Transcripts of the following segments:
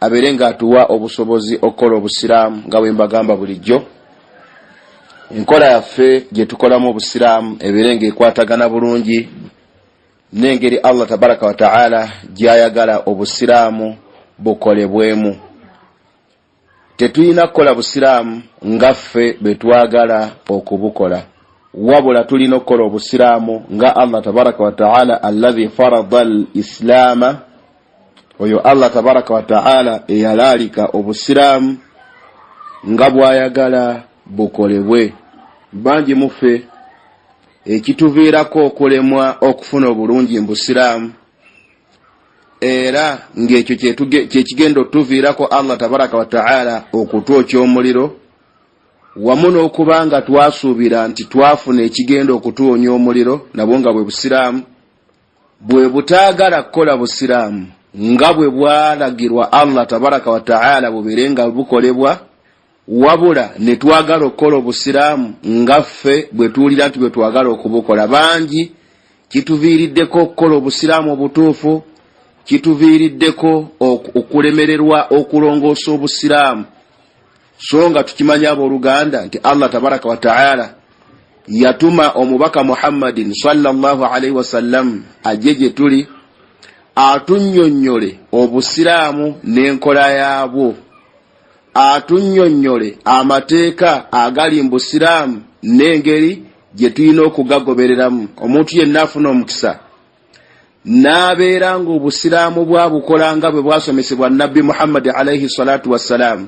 abeere nga atuwa obusobozi okukola obusiraamu nga bwembagamba bulijjo enkola yaffe gyetukolamu obusiraamu ebeere nga ekwatagana bulungi nengeri allah tabaraka wataala gyayagala obusiraamu bukolebwemu tetulina kukola busiraamu nga ffe betwagala okubukola wabula tulina okukola obusiraamu nga allah tabaraka wataala allahi farada al islaama oyo allah tabaraka wataala eyalaalika obusiraamu nga bwayagala bukolebwe bangi muffe ekituviirako okulemwa okufuna obulungi mu busiraamu era ng'ekyo kyekigenda otuviirako allah tabaraka wataala okutwokya omuliro wamu n'okuba nga twasuubira nti twafuna ekigenda okutuwonya omuliro nabwo nga bwe busiraamu bwe butaagala kukola busiraamu nga bwe bwalagirwa allah tabaraka wataala bubeere nga bukolebwa wabula ne twagala okukola obusiraamu nga ffe bwe tuwulira nti bwe twagala okubukola bangi kituviiriddeko okukola obusiraamu obutuufu kituviiriddeko okulemererwa okulongoosa obusiraamu so nga tukimanyi abooluganda nti allah tabaraka wataala yatuma omubaka muhammadin salllahalaihi wasallam ajje gye tuli atunyonnyole obusiraamu n'enkola yaabwo atunyonnyole amateeka agali mu busiraamu n'engeri gye tulina okugagobereramu omuntu yenna afuna omukisa n'abeera ng'obusiraamu bwabukola nga bwe bwasomesebwa nabbi muhammadi alaihi salatu wassalaamu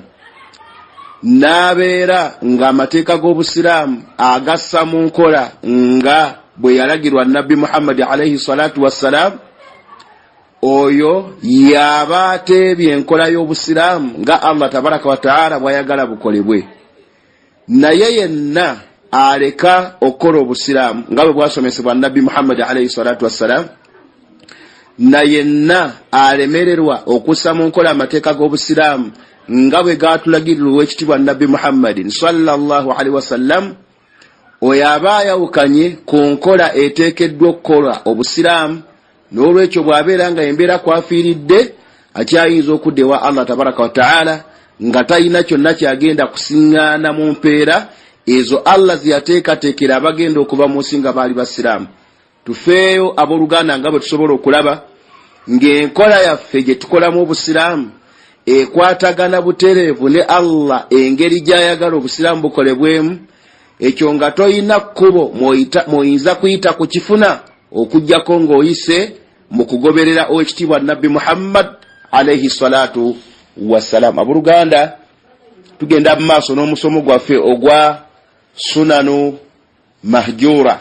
n'abeera ng'amateeka g'obusiraamu agassa mu nkola nga bwe yalagirwa nabbi muhammadi alaihi salatu wassalaamu oyo yaaba ateebye enkola y'obusiraamu nga allah tabaraka wataala bwayagala bukolebwe naye yenna aleka okukola obusiraamu nga bwe bwasomesebwa nabbi muhammadi alaihi salatu wassalaamu na yenna alemererwa okussa mu nkola amateeka g'obusiraamu nga bwe gaatulagirira ow'ekitibwa nabbi muhammadin salllahalihi wasallam oyo aba ayawukanye ku nkola eteekeddwa okukola obusiraamu n'olwekyo bw'abeera nga embeera kwafiiridde akyayinza okudda ewa allah tabaraka wataala nga talina kyonna kyagenda kusiŋŋaana mu mpeera ezo allah zeyateekateekera abagenda okuva mu nsi nga baali basiraamu tufeeyo abooluganda nga bwe tusobola okulaba ng'enkola yaffe gye tukolamu obusiraamu ekwatagana butereevu ne allah engeri gy'ayagala obusiraamu bukolebwemu ekyo nga tolina kkubo mwoyinza kuyita ku kifuna okugyako ng'oyise mu kugoberera owekitiibwa nabbi muhammad alaihi salatu wassalam aboluganda tugenda mu maaso n'omusomo gwaffe ogwa sunanu mahjura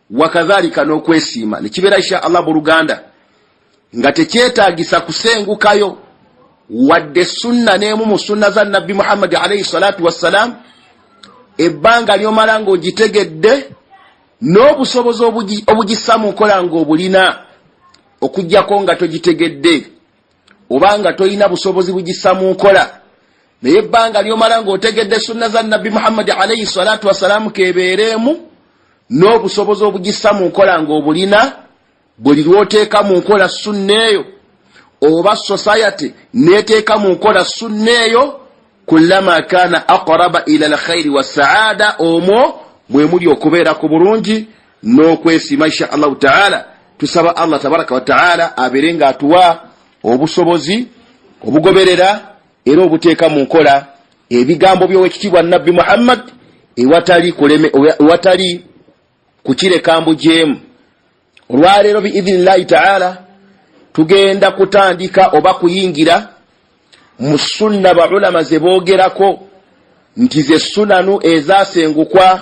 wakadhalika n'okwesiima nekibeera insha allah buluganda nga tekyetagisa kusengukayo wadde sunna n'emu mu sunna za nabbi muhammadi alaihi salatu wassalaamu ebbanga lyomala ng'ogitegedde n'obusobozi obugissa mu nkola ng'obulina okugyako nga togitegedde oba nga tolina busobozi bugisa mu nkola naye ebbanga lyomala ng'otegedde sunna za nabbi muhammadi alaihi salatu wassalaamu kebeereemu n'obusobozi obugisa mu nkola ng'obulina buli lwoteeka mu nkola sunna eyo oba society neteeka mu nkola sunna eyo kulama kana aqraba ila lkhairi wassaada omwo mwemuli okubeera ku bulungi n'okwesiima insha allahu taala tusaba allah tabaraka wataala abeere nga atuwa obusobozi obugoberera era obuteeka mu nkola ebigambo byowekitiibwa nabbi muhammad ewatali kukireka mbujeemu olwaleero biidhinillahi taala tugenda kutandika oba kuyingira mu sunna baulama ze boogerako nti ze sunanu ezasengukwa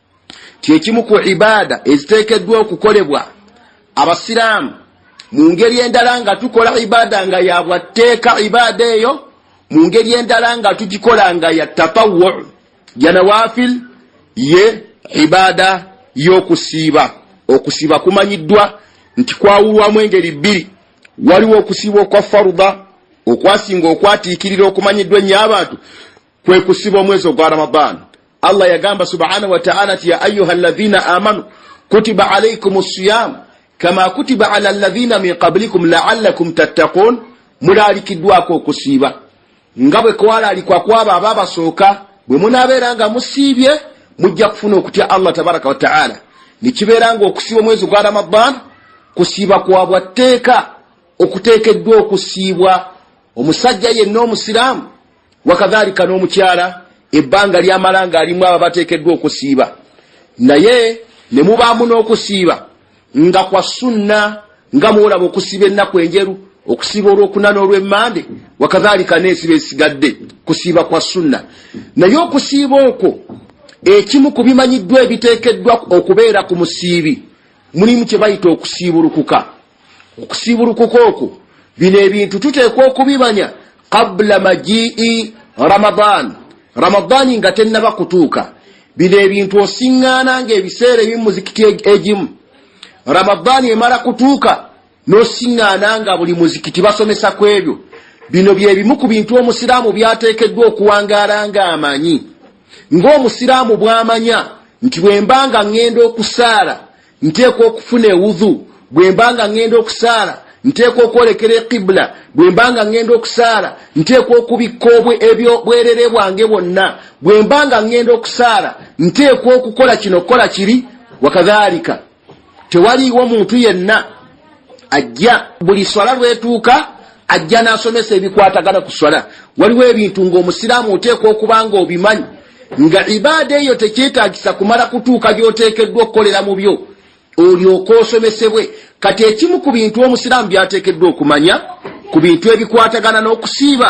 kyekimu ku ibaada eziteekeddwa okukolebwa abasiraamu mu ngeri endala nga tukola ibaada nga yabwatteeka ibaada eyo mu ngeri endala nga tugikola nga ya tatawu janawafil ye ibaada y'okusiiba okusiiba kumanyiddwa nti kwawulwamu engeri bbiri waliwo okusiiba okwa faruda okwasinga okwatiikirira okumanyiddwa ennyo abantu kwe kusiba omwezi ogwa ramadan allah yagamba subhanahu wataala ti ya ayuha alladhina amanu kutiba alaikum siyam kama kutiba ala alladhina min qablikum laalakum tattaqun mulalikiddwako okusiiba nga bwe kwalalikwa kwabo aba abasooka bwe munaabeera nga musiibye mujja kufuna okutya allah tabaraka wataala nekibeera nga okusiiba omwezi gwa ramadan kusiiba kwa bwa tteeka okuteekeddwa okusiibwa omusajja yenna omusiraamu wakadhalika n'omukyala ebbanga lyamala ng'alimu aba bateekeddwa okusiiba naye ne mubaamu n'okusiiba nga kwa sunna nga mwolaba okusiiba ennaku enjeru okusiiba olwokuna n'olwemmande wakadhalika n'esiba esigadde kusiiba kwa sunna naye okusiiba okwo ekimu ku bimanyiddwa ebiteekeddwa okubeera ku musiibi mulimu kye bayita okusiibulukuka okusiibulukuka okwo bino ebintu tuteekwa okubimanya qabula majii ramadan ramadaani nga tennaba kutuuka bino ebintu osiŋŋaana ng'ebiseera ebimu muzikiti egimu ramadaani emala kutuuka n'osiŋŋaana nga buli muzikiti basomesa ku ebyo bino bye bimu ku bintu omusiraamu byateekeddwa okuwangaala ng'amanyi ng'omusiraamu bw'amanya nti bwe mba nga ŋŋenda okusaala Nteekwa okufuna ewudhu bwe mba nga ŋŋenda okusaala, nteekwa okwolekera eqibula bwe mba nga ŋŋenda okusaala, nteekwa okubikka ebyobwerere bwange bwonna bwe mba nga ŋŋenda okusaala, nteekwa okukola kino okukola kiri, wakadhalika tewaliiwo muntu yenna. ajja buli swala lwetuuka ajja n'asomesa ebikwatagana ku swala waliwo ebintu ng'omusiraamu oteekwa okuba nga obimanyi nga ibaada eyo tekyetagisa kumala kutuuka gy'oteekeddwa okukolera mu byo olyoka osomesebwe kati ekimu ku bintu omusiraamu byateekeddwa okumanya ku bintu ebikwatagana n'okusiiba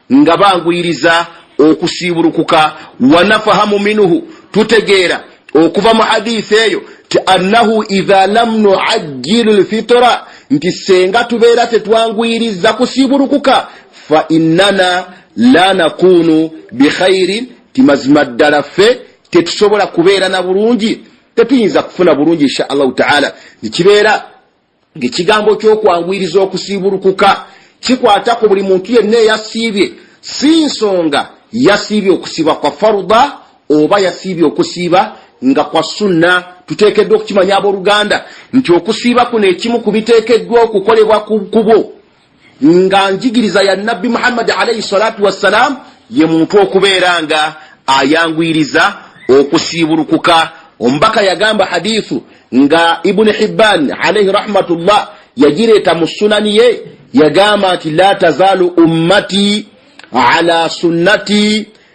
nga banguyiriza okusiibulukuka wanafahamu minuhu tutegeera okuva mu hadithi eyo ti annahu idha lam nuajjilu lfitira nti senga tubeera tetwanguyiriza kusiibulukuka fa innana la nakunu bikhairin ti mazima ddala ffe tetusobola kubeera na bulungi tetuyinza kufuna bulungi insha allahu taala nikibeera ng'ekigambo ky'okwanguyiriza okusiibulukuka kikwata ku buli muntu yenna eyasiibye si nsonga yasiibye okusiiba kwa faruda oba yasiibye okusiiba nga kwa sunna tuteekeddwa okukimanya abooluganda nti okusiiba kuno ekimu ku biteekeddwa okukolebwa ku kubo nga njigiriza ya nabbi muhammadi alaihi salatu wassalam ye muntu okubeera nga ayanguyiriza okusiibulukuka omubaka yagamba hadithu nga ibuni hibban alaihi rahmatullah yagireeta mu sunani ye yagamba nti la tazaalu ummati ala sunnati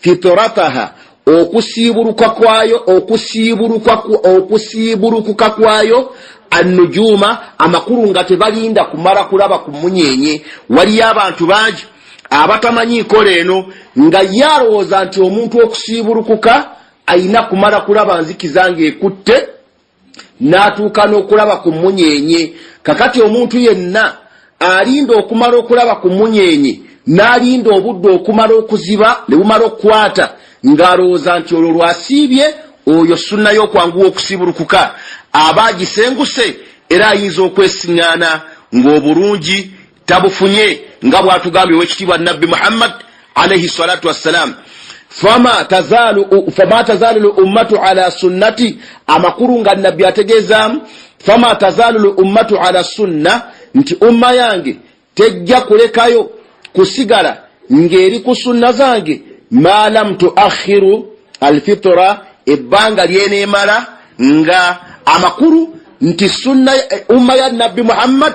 fitrataha okusiibuluka kwayo okusiibulukuka kwayo annujuuma amakulu nga tebalinda kumala kulaba ku munyenye waliyo abantu bangi abatamanyi nkola eno nga ye alowooza nti omuntu okusiibulukuka ayina kumala kulaba nzikiza ng'ekutte n'atuuka n'okulaba ku mmunyeenye. Kakati omuntu yenna alinda okumala okulaba ku mmunyeenye n'alinda obudde okumala okuziba ne bumala okukwata ng'alowooza nti olwo lw'asiibye, oyo sunna y'okwanguwa okusiibulukuka aba agisenguse era ayinza okwesing'aana ng'obulungi. tabufunye nga bwatugambye owekitiibwa nabbi muhammad alaihi salatu wassalam fama tazalu luummatu ala sunnati amakulu nga nabbi ategeezaamu fama tazalu luummatu ala sunna nti umma yange tejja kulekayo kusigala ng'eri ku sunna zange ma lam tuakhiru alfitra ebbanga lyeneemala nga amakulu nti sunna eh, umma ya nabbi muhammad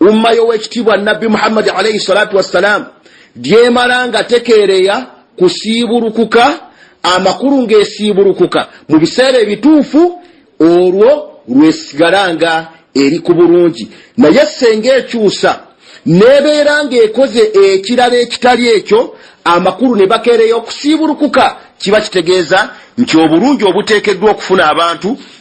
umma y'owekitiibwa nabbi muhammadi alaihi salatu wassalaamu gyemala nga tekeereya kusiibulukuka amakulu ng'esiibulukuka mu biseera ebituufu olwo lwesigala nga eri ku bulungi naye senga ekyusa nebeera ng'ekoze ekirala ekitali ekyo amakulu ne bakeereya okusiibulukuka kiba kitegeeza nti obulungi obuteekeddwa okufuna abantu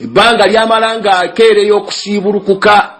ebbanga lyamala ng'akeereyo okusiibulukuka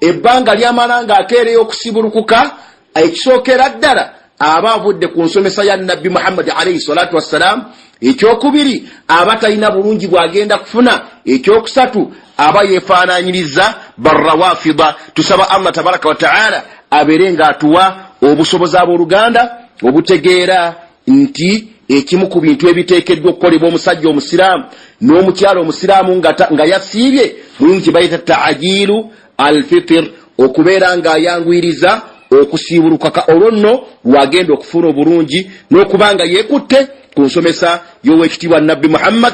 ebbanga lyamala ng'akeereyo okusiibulukuka ekisookera ddala aba avudde ku nsomesa ya nabbi muhammadi alaihi salatu wassalaamu ekyokubiri aba talina bulungi bw'agenda kufuna ekyokusatu aba yeefaananyiriza barrawafida tusaba allah tabaraka wataala abeere ng'atuwa obusobozi ab'oluganda obutegeera nti ekimu ku bintu ebiteekeddwa okukolebwa omusajja omusiraamu n'omukyalo omusiraamu nga yasiibye mulimu kye bayita taajiilu alfitir okubeera ng'ayanguyiriza okusiibulukaka olwo nno lwagenda okufuuna obulungi n'okuba nga yeekutte ku nsomesa y'ow'ekitiibwa nabbi muhammad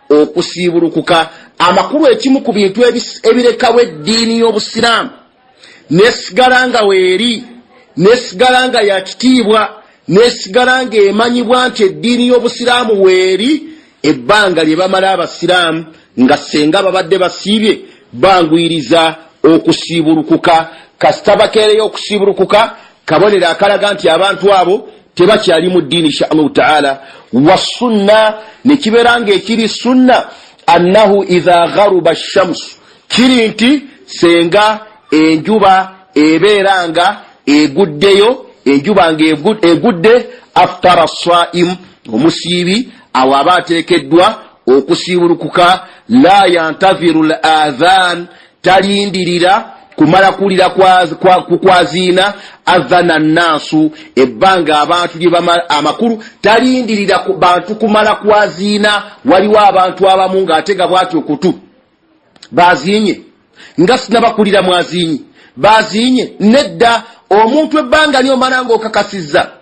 okusiibulukuka amakulu ekimu ku bintu ebirekawo eddiini y'obusiraamu nesigala nga weeri nesigala nga ya kitiibwa nesigala nga emanyibwa nti eddiini y'obusiraamu weeri ebbanga lye bamala abasiraamu nga senga babadde basiibye banguyiriza okusiibulukuka kasita bakeereyo okusiibulukuka kabonero akalaga nti abantu abo tebakyali mu ddiini insha allahu taala wasunna nekibeera nga ekiri sunna annahu idha gharuba shamsu kiri nti senga enjuba ebeera nga eguddeyo enjuba nga egudde aftara saimu omusiibi awo aba ateekeddwa okusiibulukuka la yantahiru l adhan Talindirira kumala kuwulira kukwaziina adhana nnaasu ebbanga abantu lye bamala amakulu. Talindirira bantu kumala kwaziina. Waliwo abantu abamu ng'ate nga bwati okutu baaziinye nga sinabakulira mwaziinyi baaziinye nedda omuntu ebbanga ly'omala ng'okakasizza.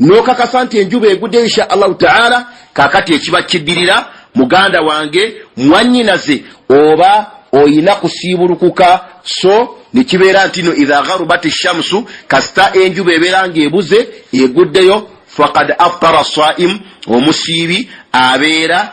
nokakasa nti enjuba egude insha allahu taala kakati ekiba kidirira muganda wange mwanyinaze oba oyina kusiibulukuka so nekibeera ntino idha gharubat shamsu kasita enjuba ebeera nga ebuze eguddeyo fakad aftara saimu omusiibi abeera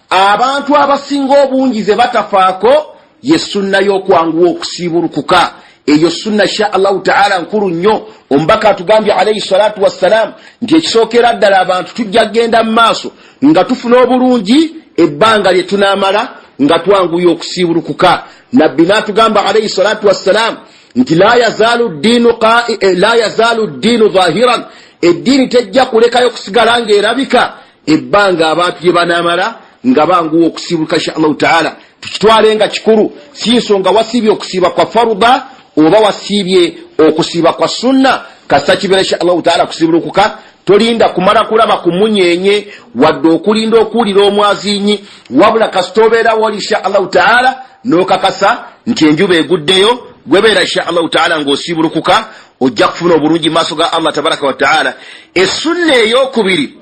Abantu abasinga obungi ze batafaako ye sunna y'okwanguwa okusiibulukuka. Eyo sunna sha Allahu ta'ala nkulu nnyo. Omubaka atugambye alaihi salatu wassalam nti ekisookera ddala abantu tujja kugenda mu maaso nga tufuna obulungi ebbanga lye tunaamala nga twanguya okusiibulukuka. Nabbi n'atugamba alaihi salatu wassalam nti la yazaalu ddiinu eh, zahiran, eddiini tejja kulekayo kusigala ng'erabika ebbanga abantu lye banamala nga banguwa okusiibuluka insha allahu taala tukitwale nga kikulu si nsonga wasiibye okusiiba kwa faruda oba wasiibye okusiiba kwa sunna kasita kibeera insha allahu taala kusiibulukuka tolinda kumala kulaba ku munyenye wadde okulinda okuwulira omwazinyi wabula kasita obeera wali insha allahu taala nokakasa nti enjuba eguddeyo gwebeera insha allahu taala ngaosiibulukuka ojja kufuna obulungi maaso ga allah tabaraka wataala essunna eyokubiri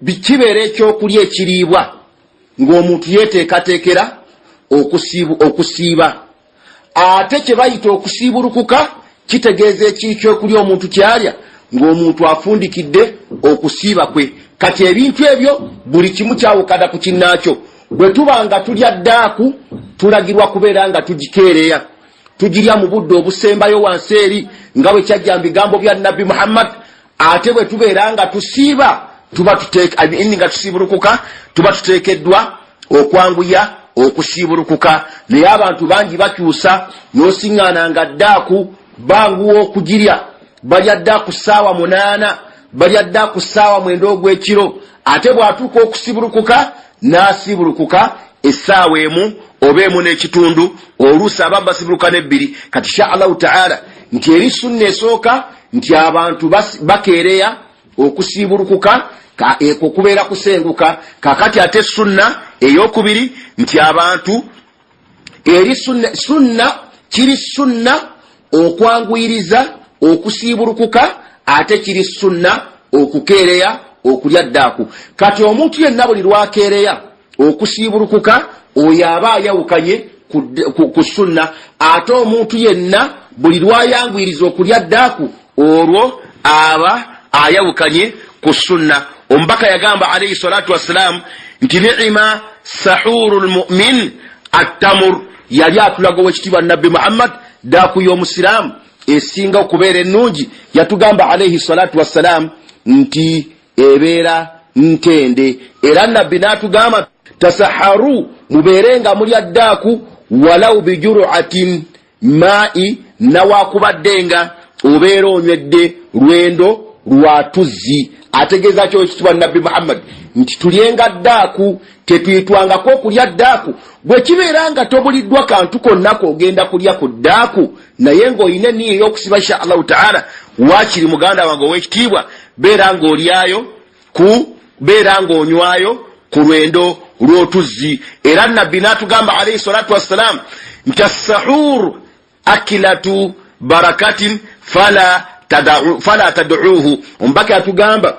Bikibeera ekyokulya ekiriibwa ng'omuntu yeeteekateekera okusiiba. Ate kye bayita okusiibulukuka kitegeeza ekiri kyokulya omuntu kyalya ng'omuntu afundikidde okusiiba kwe. Kati ebintu ebyo buli kimu kyawukana ku kinnaakyo. Bwe tuba nga tulya ddaaku, tulagirwa kubeera nga tugikeereya, tugirya mu budde obusembayo wansi eri, nga bwe kyajja mu bigambo bya Nabbi Muhammad, ate bwe tubeera nga tusiiba tuba tuteekaini nga tusiibulukuka tuba tuteekeddwa okwanguya okusiibulukuka naye abantu bangi bakyusa nosiŋŋaana nga ddaaku banguwa okugirya balya dda ku ssaawa munaana balya dda ku ssaawa mwenda ogw'ekiro ate bw'atuuka okusiibulukuka n'asiibulukuka essaawa emu oba emu n'ekitundu oluusi abambasibuluka n'ebbiri kati sha allahu taala nti eri sunna esooka nti abantu bakeereya okusiibulukuka ekwo kubeera kusenguka kakati ate sunna eyokubiri nti abantu eri sunna kiri sunna okwanguyiriza okusiibulukuka ate kiri sunna okukeereya okulya ddaaku kati omuntu yenna buli lwakeereya okusiibulukuka oyo aba ayawukanye ku sunna ate omuntu yenna buli lwayanguyiriza okulya ddaaku olwo aba ayawukanye ku sunna omubaka yagamba alaihi salatu wassalaamu nti niima sahuru lmumin attamur yali atulaga owekitiibwa nabbi muhammad ddaaku y'omusiraamu esinga okubeera ennungi yatugamba alaihi salatu wassalaamu nti ebeera ntende era nabbi n'atugamba tasaharu mubeere nga mulya ddaaku walau bijuruatin maai nawakubadde nga obeera onywedde lwendo lwa tuzzi ategeeza kyo ekitibwa nabbi muhammadi nti tulyenga ddaaku tetuyitwangako okulya ddaaku bwe kibeera nga tobuliddwa kantu konnako ogenda kulya ku ddaaku naye ng'olina enniya ey'okusiba insha allahu taala waakiri muganda wange ow'ekitiibwa beera ng'olyayo ku beera ng'onywayo ku lwendo lw'otuzzi era nabbi n'atugamba alaihi salatu wassalaamu nti assahuur akilatu barakatin fala tadauuhu omubaka yatugamba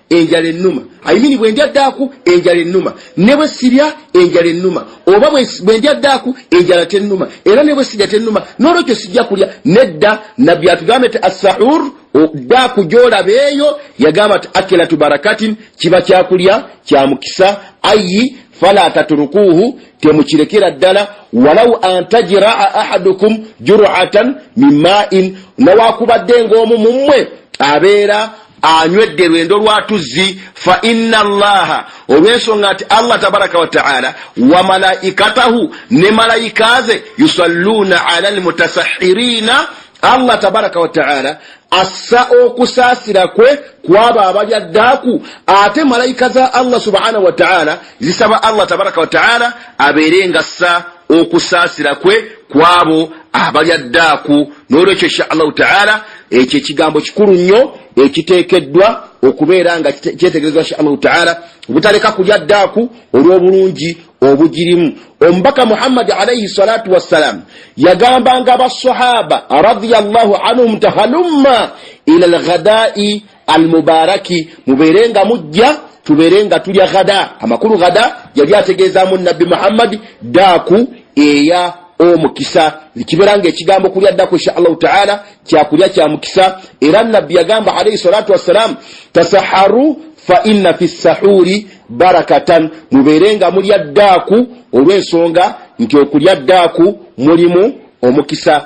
enjala ennuma ayimini bwe ndya ddaaku enjala ennuma ne bwe sirya enjala ennuma oba bwe ndya ddaaku enjala tennuma era ne bwe sirya tennuma n'olwekyo sijja kulya nedda nabbi atugambe ti assahur ddaaku gy'olaba eyo yagamba ti akilatu barakatin kiba kyakulya kya mukisa ayi fala taturukuuhu temukirekera ddala walau antajiraa ahadukum juratan min main nawakubadde ng'omu mu mmwe abeera anywedde lwendo lwa tuzzi fa inna allaha olw'ensonga nti allah tabaraka wataala wa malaikatahu ne malayika ze yusalluuna ala almutasahhiriina allah tabaraka wataala assa okusaasira kwe kwabo abalya ddaaku ate malayika za allah subhanahu wataala zisaba allah tabaraka wataala abeere nga ssa okusaasira kwe kwabo abalya ddaaku n'olwekyo insha allahu taala ekyo ekigambo kikulu nnyo ekiteekeddwa okubeera nga kyetegerezwa sha allahu taala obutaleka kulya ddaaku olw'obulungi obugirimu omubaka muhammadi alaihi salatu wassalaamu yagambanga basahaba radiallahu anhum tahalumma ila lghadai almubaraki mubeere nga mujja tubeere nga tulya ghada amakulu ghada yali ategeezaamu nabbi muhammadi daaku eya omukisa ekibeera nga ekigambo kulya ddaku insha allahu taala kyakulya kya mukisa era nabbi yagamba alaihi salatu wassalaamu tasaharu fa inna fi sahuri barakatan mubeere nga mulya ddaaku olw'ensonga nti okulya ddaaku mulimu omukisa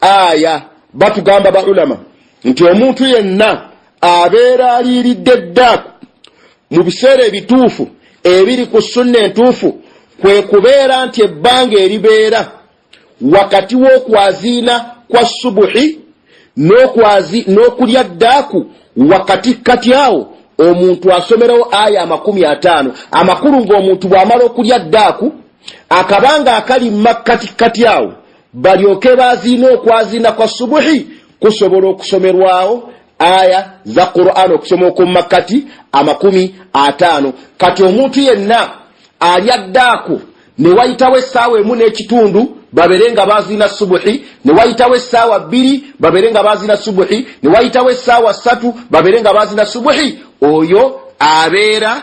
aya batugamba ba ulama nti omuntu yenna abeera aliiridde ddaaku mu biseera ebituufu ebiri ku sunna entuufu kwe kubeera nti ebbanga eribeera wakati w'okwaziina kwa subuhi n'okulya ddaaku wakati kati awo omuntu asomerawo aya amakumi ataano amakulu ng'omuntu bw'amala okulya ddaaku akabanga akali mu makkati kati awo balyoke baziina okwaziina kwa subuhi kusobola okusomerwawo aya za quran okusoma okwmumakkati amakumi ataano kati omuntu yenna alya ddaako ne wayitawo essaawa emu n'ekitundu babere nga baziina subuhi ne wayitawo essaawa bbiri babere nga baziina subuhi ne wayitawo essaawa ssatu babere nga baziina subuhi oyo abeera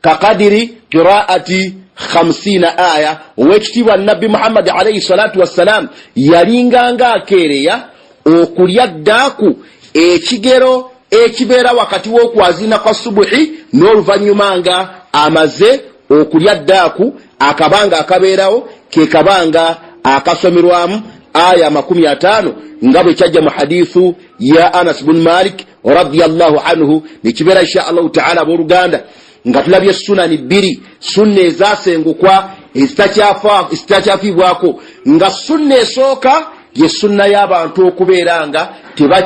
kakadiri qiraati khamsiina aya owekitiibwa nabbi muhammadi alaihi salatu wassalaamu yalinganga akeereya okulya ddaaku ekigero ekibeera wakati w'okwazina kwa subuhi n'oluvannyuma nga amaze okulya ddaaku akabanga akabeerawo ke kabanga akasomerwamu aya amakumi ataano nga bwe kyajja mu hadithu ya anas bun malik radiallahu anhu nekibeera insha allahu taala aboluganda nga tulabye sunani bbiri sunna ezasengukwa ezitakyafiibwako nga sunna esooka ye sunna y'abantu okubeera nga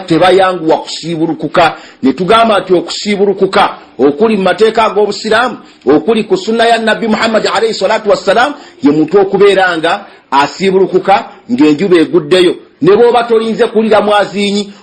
tebayanguwa kusiibulukuka ne tugamba nti okusiibulukuka okuli mu mateeka ag'obusiraamu okuli ku sunna ya nabbi muhammadi alaihi salatu wassalaamu ye muntu okubeera nga asiibulukuka ng'enjuba eguddeyo ne bw'oba tolinze kuwulira mwaziinyi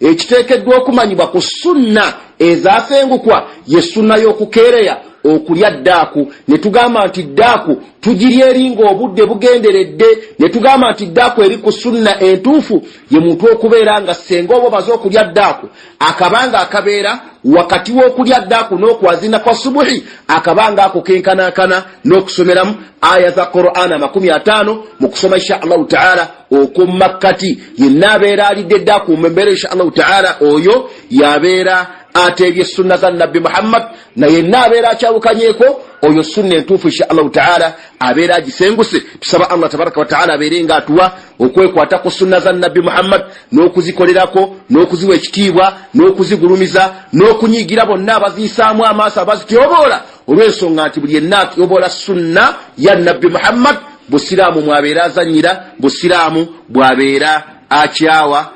ekiteekeddwa okumanyibwa ku sunna ezasengukwa ye sunna y'okukeereya okulya ddaaku ne tugamba nti ddaaku tugirya eringa obudde bugenderedde ne tugamba nti ddaaku eri ku sunna entuufu ye muntu okubeera nga ssenga oba omaze okulya ddaaku akabanga akabeera wakati w'okulya ddaaku n'okwazina kwa subuhi akabanga ako kenkanankana n'okusomeramu aya za qur'an amakumi ataano mu kusoma insha allahu taala okwo mu makkati yenna abeera alidde dda akuuma embeera insha allahu taala oyo yabeera ateebye sunna za nabbi muhammad na yenna abeera akyawukanyeeko oyo sunna entuufu insha allahu taala abeera agisenguse tusaba allah tabaraka wataala abeere nga atuwa okwekwata ku sunna za nabbi muhammad n'okuzikolerako n'okuziwa ekitiibwa n'okuzigulumiza n'okunyiigira bonna abaziyisaamu amaaso abazityoboola olw'ensonga nti buli yenna atyoboola sunna ya nabbi muhammad busiraamu mwabeera azanyira busiraamu bwabeera akyawa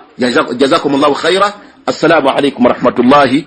jazakum llahu khaira assalamu alaikum warahmatullahi